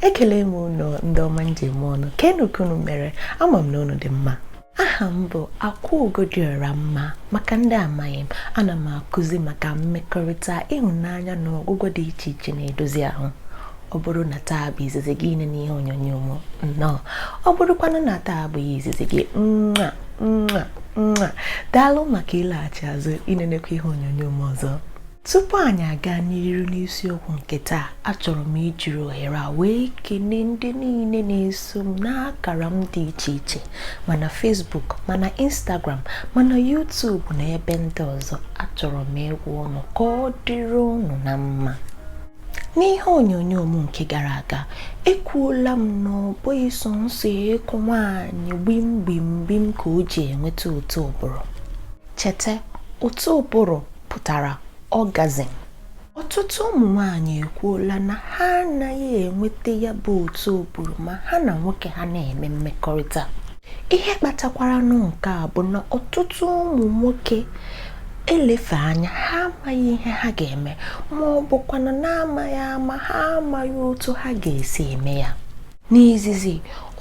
ekele m unu ndị ọma m ji eme ọnụ kenu ka unu mere ama m na unu dị mma aha m bụ akwaugo dị ọra mma maka ndị amaghị m ana m akụzi maka mmekọrịta ịhụnanya na ọgwụgwọ dị iche iche na-edozi ahụ ọ bụrụ na taa bụ izizi gị inene ihe onyonyo m nnọọ ọ bụrụkwanụ na taa abụghị izizi gị mwa mwa mwa daalụ maka ịlaghachi azụ inenekwa ihe onyonyo m ọzọ tupu anyị aga n'iru n'isiokwu nke taa achọrọ m ijiri ohere a wee kelee ndị niile na-eso m n'akara m dị iche iche ma na Facebook ma na Instagram ma na YouTube na ebe ndị ọzọ achọrọ m ịgwa unu ka ọ dịrị unu na mma n'ihe onyonyo m nke gara aga ekwuola m na ọ bụghị sọ nsọ ịkụ nwaanyị gbim gbim gbim ka o ji enweta ụtọ ụbụrụ Cheta ụtọ ụbụrụ pụtara orgasm. Ọtụtụ ụmụ nwaanyị ekwuola na ha anaghị enweta ya bụ ụtọ ụbụrụ ma ha na nwoke ha na-eme mmekọrịta. Ihe kpatakwaranụ nke a bụ na ọtụtụ ụmụ nwoke elefe anya ha amaghị ihe ha ga-eme ma ọ bụkwanụ na amaghị ama ha amaghị otu ha ga-esi eme ya. N'izizi,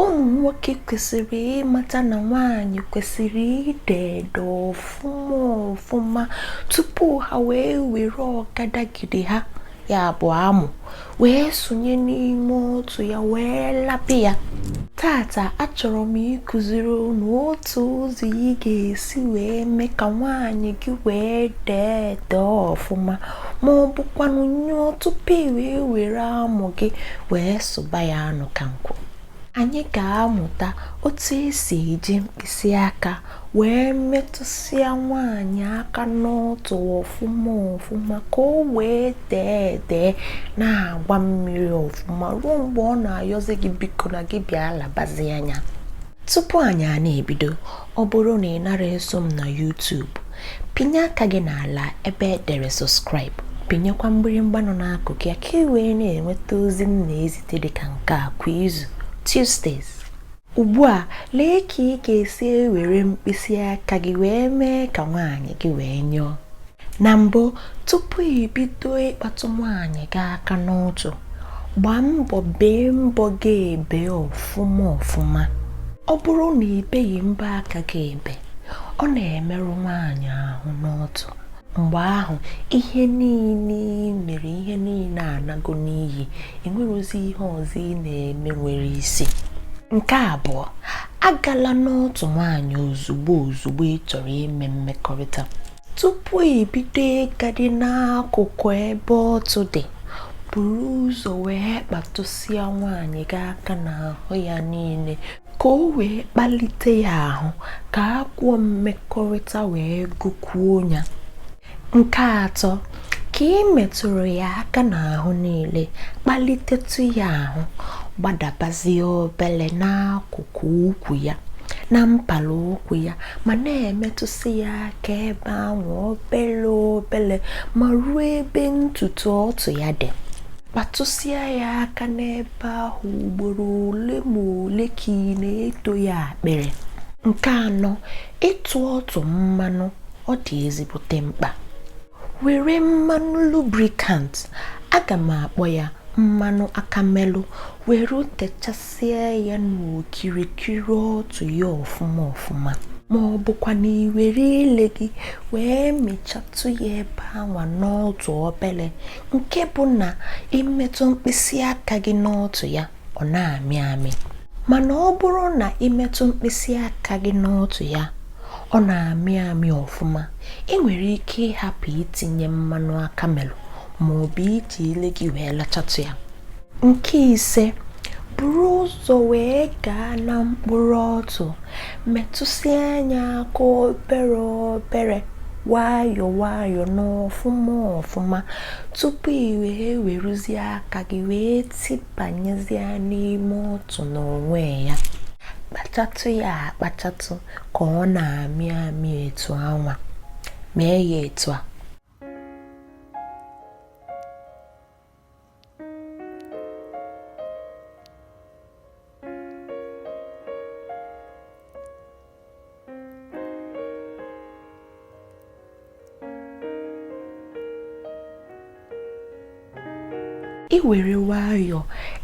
ụmụ nwoke kwesịrị ịmata na nwaanyị kwesịrị ide ede ọfụma ọfụma tupu ha wee were ọkadagide ha ya bụ amụ wee sonye n'ime ọtụ ya wee laba ya taata achọrọ m ịkụziri unu otu ụzọ ị ga-esi wee mee ka nwaanyị gị wee dee ede ọfụma ma ọ bụkwanụ nyụọ tupu i wee were amụ gị wee sụba ya anụ ka nkwụ anyị ga-amụta otu esi eji mkpịsị aka wee metụsịa nwaanyị aka n'ọtụ ọfụma ọfụma ka o wee dee ede na-agba mmiri ọfụma ruo mgbe ọ na-ayọzi gị biko na gị bịa labazianụ ya Tupu anyị a na-ebido, ọ bụrụ na ị nara eso m na YouTube, pinye aka gị n'ala ebe e dere subscribe, pinyekwa mgbịrịmgba nọ n'akụkụ ya ka ị wee na-enweta ozi m na-ezite dị ka nke a kwa izu Tuesdays. Ugbu a, lee ka ị ga-esi ewere mkpịsị aka gị wee mee ka nwaanyị gị wee nyụọ. na mbụ tupu i bido ịkpatụ nwaanyị gị aka n'ọtụ gbaa mbọ bee mbọ gị ebe ọfụma ọfụma ọ bụrụ na i beghị mbọ aka gị ebe ọ na-emerụ nwaanyị ahụ n'ọtụ mgbe ahụ ihe niile ị mere ihe niile anago n'iyi enwerozi ihe ọzọ ị na-eme nwere isi nke abụọ agala n'ọtụ nwaanyị ozugbo ozugbo ị chọrọ ime mmekọrịta tupu ibido ịgadị n'akụkụ ebe ọtụ dị buru ụzọ wee kpatụsịa nwaanyị gị aka n'ahụ ya niile ka o wee kpalite ya ahụ ka agụụ mmekọrịta wee gụkwuo ya nke atọ ka ị metụrụ ya aka n'ahụ niile kpalitetụ ya ahụ gbadabazie obele n'akụkụ ukwu ya na mpala ụkwụ ya ma na-emetụsị ya aka ebe ahụ obele obele ma ruo ebe ntutu ọtụ ya dị kpatụsịa ya aka n'ebe ahụ ugboro ole ma ole ka ị na-eto ya akpịrị nke anọ ite ọtụ mmanụ ọ dị ezigbote mkpa were mmanụ lubricant aga m akpọ ya mmanụ aka melụ were techasịa ya n'okirikiri ọtụ ya ọfụma ọfụma ma ọ bụkwa na ị were ile gị wee mechatụ ya ebe anwa n'ọtụ obere nke bụ na ị metụ mkpịsị aka gị n'ọtụ ya ọ na-amị amị mana ọ bụrụ na ị metụ mkpịsị aka gị n'ọtụ ya ọ na-amị amị ọfụma i nwere ike ịhapụ itinye mmanụ aka melụ ma ọ bụ iji ile gị wee lachatụ ya nke ise buru ụzọ wee gaa na mkpụrụ ọtụ metụsịa ya aka obere obere nwayọ nwayọ n'ọfụma ọfụma tupu i wee werezie aka gị wee tibanyezie n'ime ọtụ n'onwe ya kpachatụ ya akpachatụ ka ọ na-amị amị etu anwa mee ya etu a i were nwayọọ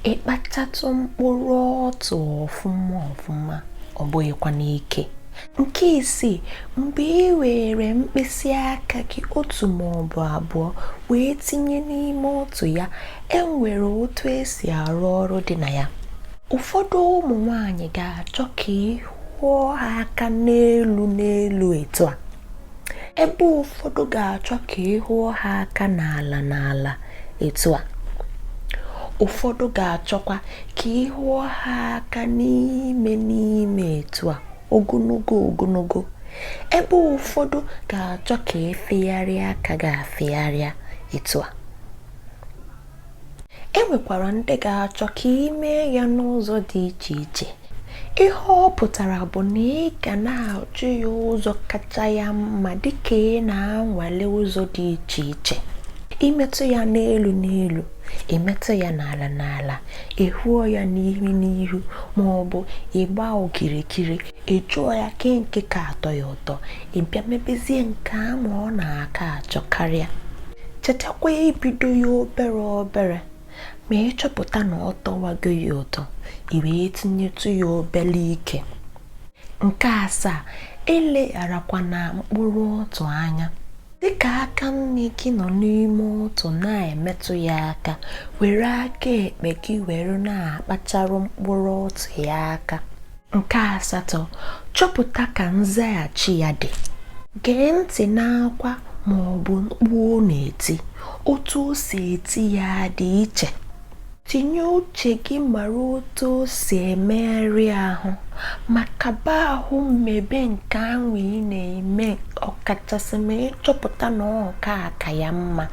ị kpachatụ mkpụrụ ọtụ ọfụma ọfụma ọ bụghịkwa n'ike nke isii mgbe ị were mkpịsị aka gị otu ma ọ bụ abụọ wee tinye n'ime ọtụ ya e nwere otu e si arụ ọrụ dị na ya ụfọdụ ụmụ nwanyị ga-achọ ka ị hụọ ha aka n'elu n'elu etu a ebe ụfọdụ ga-achọ ka ị hụọ ha aka n'ala n'ala etu a ụfọdụ ga-achọkwa ka ị hụọ ha aka n'ime n'ime etu a ogologo ogologo ebe ụfọdụ ga-achọ ka efegharịa aka ga-afegharịa etu a e nwekwara ndị ga-achọ ka ị mee ya n'ụzọ dị iche iche ihe ọ pụtara bụ na ị ga na-ajụ ya ụzọ kacha ya mma dịka ị na-anwale ụzọ dị iche iche imetụ ya n'elu n'elu imetụ ya n'ala n'ala ehuo ya n'ihu n'ihu ma ọ bụ ịgba okirikiri ị jụọ ya kee nke ka atọ ya ụtọ ị bịa mebezie nke a ma ọ na-aka achọ karịa chetakwa ibido ya obere obere ma ị chọpụta na ọ tọwago ya ụtọ i wee tinyetụ ya obere ike nke asaa elegharakwana mkpụrụ ọtụ anya dịka aka nni gị nọ n'ime ọtụ na-emetụ ya aka were aka ekpe gị were na-akpachara mkpụrụ ọtụ ya aka nke asatọ chọpụta ka nzaghachi ya dị gee ntị n'akwa ma ọ bụ mkpu ọ na-eti otu o si eti ya dị iche tinye uche gị mara otu o si emegharị ahụ ma gaba ihu mebe nke ahụ ị na-eme ọkachasị ma ị chọpụta na ọ nke a ka ya mma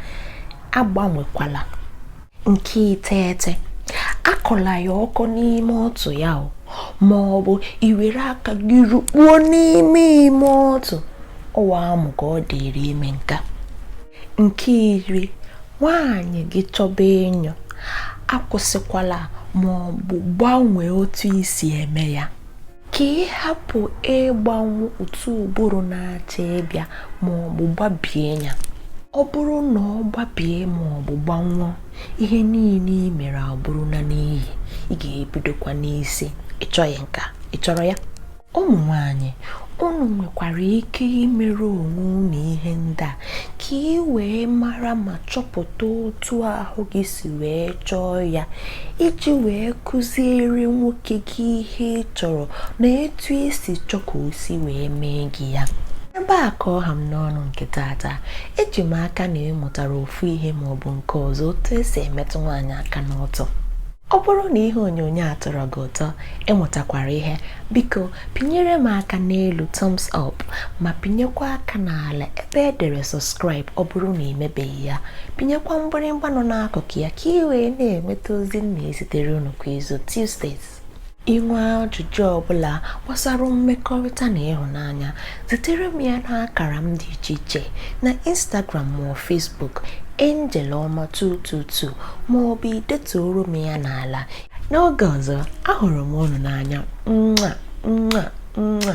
agbanwekwala nke iteghete akọla ya ọkọ n'ime ọtụ ya o ma ọ bụ iwere aka gị rukpuo n'ime ime ọtụ ọ wụ amụ ka ọ dịịrị ime nke a Nke iri, nwaanyị gị chọba inyo, akwụsịkwala ma ọ bụ gbanwee otu i si eme ya. Ka ị hapụ ịgbanwụ ụtọ bụrụ na-achọ ịbịa ma ọ bụ gbabie ya. Ọ bụrụ na ọ gbabie ma ọ bụ gbanwụọ, ihe niile i mere abụrụla n'iyi. Ị ga-ebidokwa n'isi. Ị chọghị nke a, ị chọrọ ya? ụmụ nwanyị unu nwekwara ike imere onwe unu ihe ndị a ka ị wee mara ma chọpụta otu ahụ gị si wee chọọ ya iji wee kụziere nwoke gị ihe ị chọrọ na etu i si chọọ ka o si wee mee gị ya ebe a ka ọ ha m n'ọnụ nke tata eji m aka na ị mụtara ofu ihe ma ọ bụ nke ọzọ otu e si emetụ nwaanyị aka n'ọtụ Ọ bụrụ na ihe onyonyo a tọrọ gị ụtọ, ị mụtakwara ihe, biko pịnyere m aka n'elu thumbs up ma pịnyekwa aka n'ala ebe e dere subscribe ọ bụrụ na ị mebeghị ya. Pịnyekwa mgbịrịmgba nọ n'akụkụ ya ka ị wee na-enweta ozi m na-ezitere unu kwa izu Tuesdays. I nwee ajụjụ ọ bụla gbasara mmekọrịta na ịhụnanya, zitere m ya n'akara m dị iche iche na Instagram ma ọ Facebook Angel Ọma 222 ma ọ bụ i detuoro m ya n'ala. N'oge ọzọ, ahụrụ m unu n'anya. Mwa mwa mwa.